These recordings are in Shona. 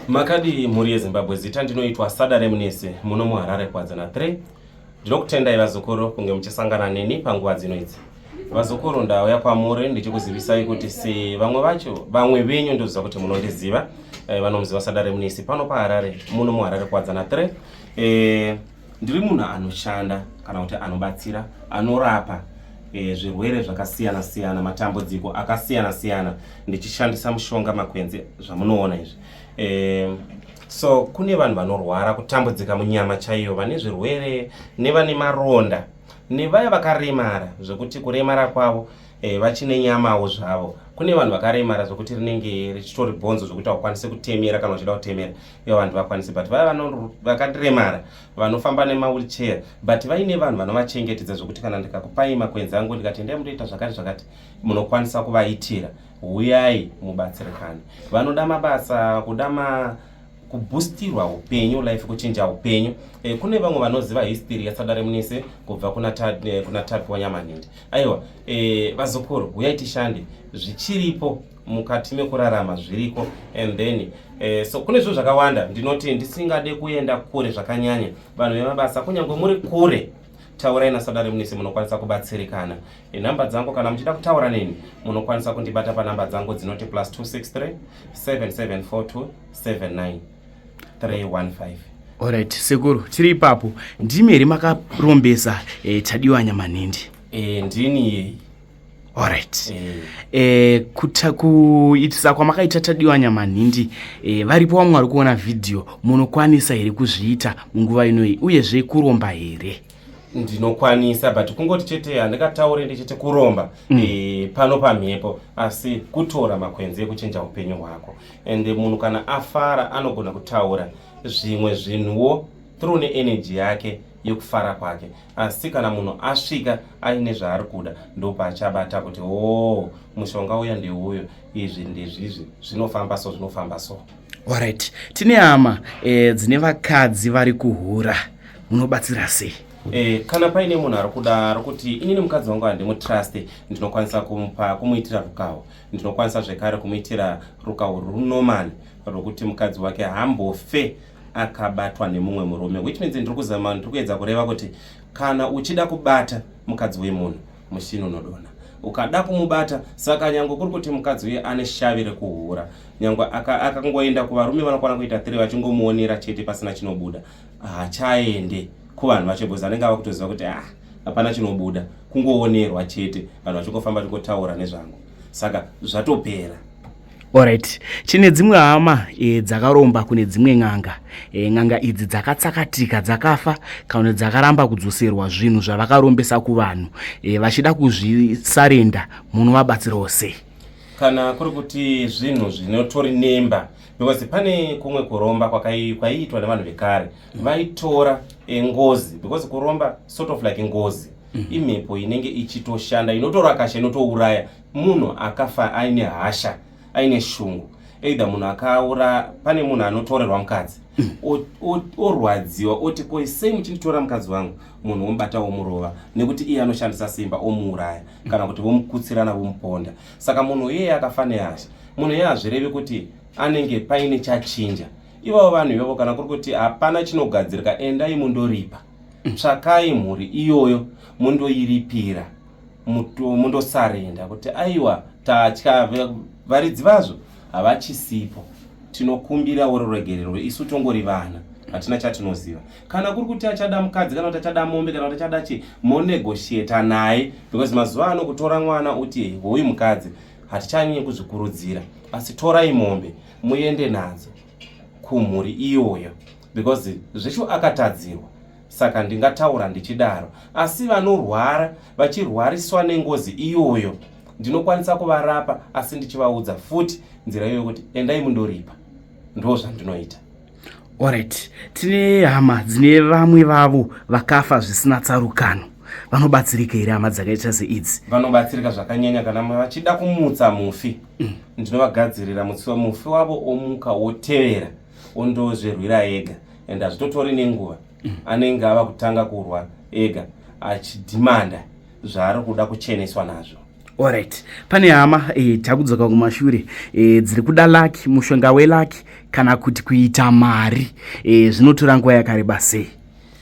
Makadii mhuri yeZimbabwe, zita ndinoitwa Sada Remnese muno muHarare Kwadza na 3. Ndinokutendai vazukuru kunge muchisangana neni panguva dzino idzi. Vazukuru ndauya kwamuri ndichikuzivisai kuti se vamwe vacho vamwe venyu ndoziva kuti munondiziva eh, vanomuziva Sada Remnese pano paHarare muno muHarare Kwadza na 3. Eh, Ndiri munhu anoshanda kana kuti anobatsira anorapa e, zvirwere zvakasiyana siyana matambudziko akasiyana siyana ndichishandisa mushonga makwenzi zvamunoona izvi e, so kune vanhu vanorwara kutambudzika munyama chaiyo vane zvirwere nevane maronda nevaya vakaremara zvekuti kuremara kwavo e, vachine nyamawo zvavo kune vanhu vakaremara zvekuti rinenge richitori bhonzo zvekuti hakukwanise kutemera kana uchida kutemera iyo vanhu vakwanise but vaya vakaremara vanofamba nemawheelchair but vaine vanhu vanovachengetedza zvekuti kana ndikakupai makwenzi angu ndikati endai mutoita zvakati zvakati munokwanisa kuvaitira huyai mubatsirikane vanoda mabasa kuda ma kubustirwa upenyu life kuchinja upenyu e, kune vamwe vanoziva history yasadare munise kubva kuna eh, tapiwa nyamanindi aiwa e, vazukuru huyai tishande zvichiripo mukati mekurarama zviriko and then eh, so kune zvinhu zvakawanda ndinoti ndisingade kuenda kure zvakanyanya vanhu vemabasa kunyange muri kure taurai nasadare munisi munokwanisa kubatsirikana inhamba dzangu kana muchida kutaura neni munokwanisa kundibata panhamba dzangu dzinoti plus 263 774279 315 Alright, sekuru tiri ipapo ndimi here makarombesa eh, tadiwa nyamanhindi eh, ndini yeyi Alright. Eh. eh, kuta kuitisa kwamakaita tadiwa nyamanhindi eh, varipo vamwe vari kuona vhidhiyo munokwanisa here kuzviita munguva inoyi uyezve kuromba here ndinokwanisa but kungoti chete handikataure ndichiti kuromba mm. e, pano pamhepo asi kutora makwenzi ekuchinja upenyu hwako and munhu kana afara anogona kutaura zvimwe zvinhuwo through neenergy yake yokufara kwake asi kana munhu asvika aine zvaari kuda ndopaachabata kuti oo mushonga uya ndeuyo izvi ndizvizvi zvinofamba so zvinofamba so orit tine hama e, dzine vakadzi vari kuhura munobatsira sei E, kana paine munhu ari kuda ari kuti inini mukadzi wangu handimutruste ndinokwanisa kumupa kumuitira rukawo ndinokwanisa zvekare kumuitira rukawo runomani rwekuti mukadzi wake hambofe akabatwa nemumwe murume which means ndiri kuzama ndiri kuedza kureva kuti kana uchida kubata mukadzi wemunhu mushini unodona ukada kumubata saka nyange kuri kuti mukadzi uye ane shavi rekuhura nyange akangoenda aka kuvarume vanokwana kuita tiri vachingomuonera chete pasina chinobuda hachaende kuvanhu vacho bhozi anenge ava kutoziva kuti ah hapana chinobuda kungoonerwa chete vanhu vachingofamba chingotaura nezvangu saka zvatopera Alright, chine dzimwe hama e, dzakaromba kune dzimwe n'anga e, n'anga idzi dzakatsakatika dzakafa kana dzakaramba kudzoserwa zvinhu zvavakarombesa kuvanhu e, vachida kuzvisarenda munovabatsirawo sei? kana kuri kuti zvinhu zvinotori nemba because pane kumwe kuromba kwaiitwa nevanhu vekare mm. vaitora e, ngozi because kuromba sort of like ngozi mm. imhepo inenge ichitoshanda inotora kasha inotouraya Munhu akafa aine hasha, aine shungu either munhu akaura pane munhu anotorerwa mukadzi orwadziwa oti ko sei muchinditora mukadzi wangu munhu womubata womurova nekuti iye anoshandisa simba omuuraya kana kuti vomukutsirana vomuponda saka munhu iyeye akafa nehasha munhu iyeye hazvirevi kuti anenge paine chachinja ivavo vanhu ivavo kana kuri kuti hapana chinogadzirika endai mundoripa tsvakai mhuri iyoyo mundoiripira mundosarenda kuti aiwa tatya varidzi vazvo havachisipo tinokumbira wori ruregerero isu tongori vana hatina chatinoziva kana kuri kuti achada mukadzi kana kuti achada mombe kana kuti achada chi monegotiata naye because mazuva ano kutora mwana uti hoyu mukadzi hatichanyanye kuzvikurudzira asi torai mombe muende nadzo kumhuri iyoyo because zveshu akatadzirwa saka ndingataura ndichidaro asi vanorwara vachirwariswa nengozi iyoyo ndinokwanisa kuvarapa asi ndichivaudza futi nzira iyoyo kuti endai mundoripa ndo zvandinoita orit tine hama dzine vamwe vavo vakafa zvisina tsarukano vanobatsirika here hama dzakaita seidzi vanobatsirika zvakanyanya kana vachida kumutsa mufi mm. ndinovagadzirira mutsi wemufi wavo omuka wotevera ondozvirwira ega and hazvitotori nenguva mm. anenge ava kutanga kurwa ega achidhimanda zvaari kuda kucheneswa nazvo orit pane hama e, takudzoka kumashure e, dziri kuda laki mushonga welaki kana kuti kuita mari e, zvinotora e, nguva yakareba sei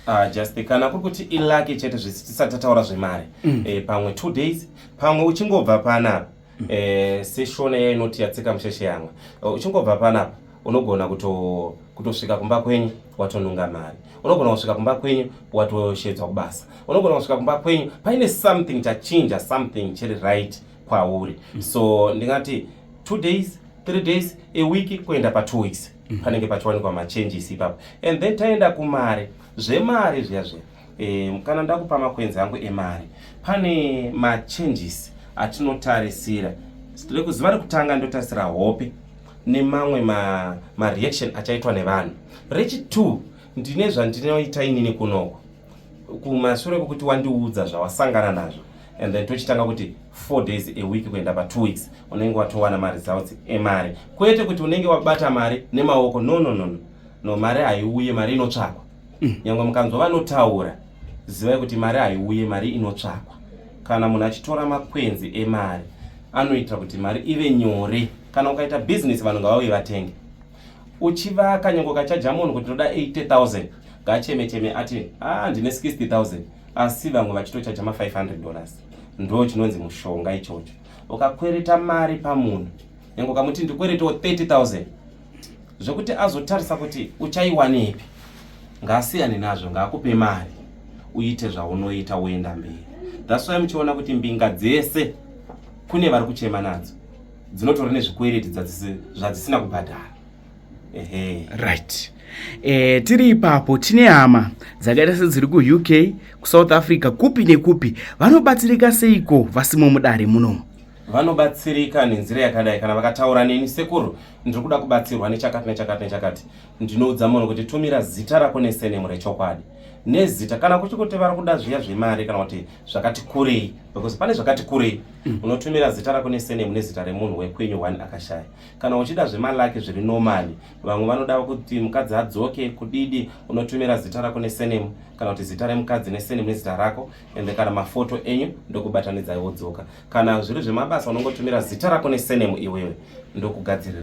Uh, just kana kuri kuti ilaki chete zvisi tisati tataura zvemari mm. e, pamwe two days pamwe uchingobva panapa eh, seshona iya inoti yatsika musheshe yamwe oh, uchingobva panapa unogona kuto kutosvika kumba kwenyu watonunga mari unogona kusvika kumba kwenyu watoshedzwa kubasa unogona kusvika kumba kwenyu paine something chachinja something chiri right kwauri mm. so ndingati two days three days a week kuenda pa two weeks mm. panenge pachiwanikwa machanges ipapo and then taenda kumari zvemari zviya zviya E, kana ndakupa makwenzi angu emari pane machanges atinotarisira rekuziva rekutanga ndotarisira hope nemamwe mareaction ma achaitwa nevanhu rechitwo ndine zvandinoita inini kunoko kumashure kwekuti wandiudza zvawasangana nazvo and then tochitanga kuti four days a week kuenda pa two weeks unenge watowana maresults emari kwete kuti unenge wabata mari nemaoko no no no no mari haiuye mari inotsvakwa mm. nyangwe mukanzwa vanotaura zivai kuti mari haiuye mari inotsvakwa kana munhu achitora makwenzi emari anoita kuti mari ive nyore kana ukaita bhizinesi vanhu ngavauye vatenge uchivaka nyangwe ukachaja munhu kuti ndoda 80000 ngacheme cheme ati ah ndine 60000 asi vamwe vachitochaja ma500 dollars ndo chinonzi mushonga ichocho ukakwereta mari pamunhu nyangwe ukamuti ndikweretawo 30000 zvekuti azotarisa kuti uchaiwanepi ngaasiyane nazvo ngaakupe mari uite zvaunoita woenda mberi thats why muchiona kuti mbinga dzese kune vari kuchema nadzo dzinotori nezvikwereti zvadzisina kubhadhara ehe right e, tiri ipapo tine hama dzakaita sedziri kuuk kusouth africa kupi nekupi vanobatsirika seiko vasimo mudare munomu vanobatsirika nenzira yakadai kana vakataura neni sekuru ndiri kuda kubatsirwa nechakati nechakati nechakati ndinoudza munhu kuti tumira zita rako nesenemu rechokwadi nezita kana kuchi kuti vari kuda zviya zvemari kana kuti zvakati kurei because pane zvakati kurei mm. unotumira zita rako nesenemu nezita remunhu wekwenyu one akashaya kana uchida zvemalaki zviri normali vamwe vanoda kuti mukadzi adzoke kudidi unotumira zita rako nesenemu kana kuti zita remukadzi nesenemu nezita rako ende kana mafoto enyu ndokubatanidzai wodzoka kana zviri zvemabasa unongotumira zita rako nesenemu iwewe ndokugadzirira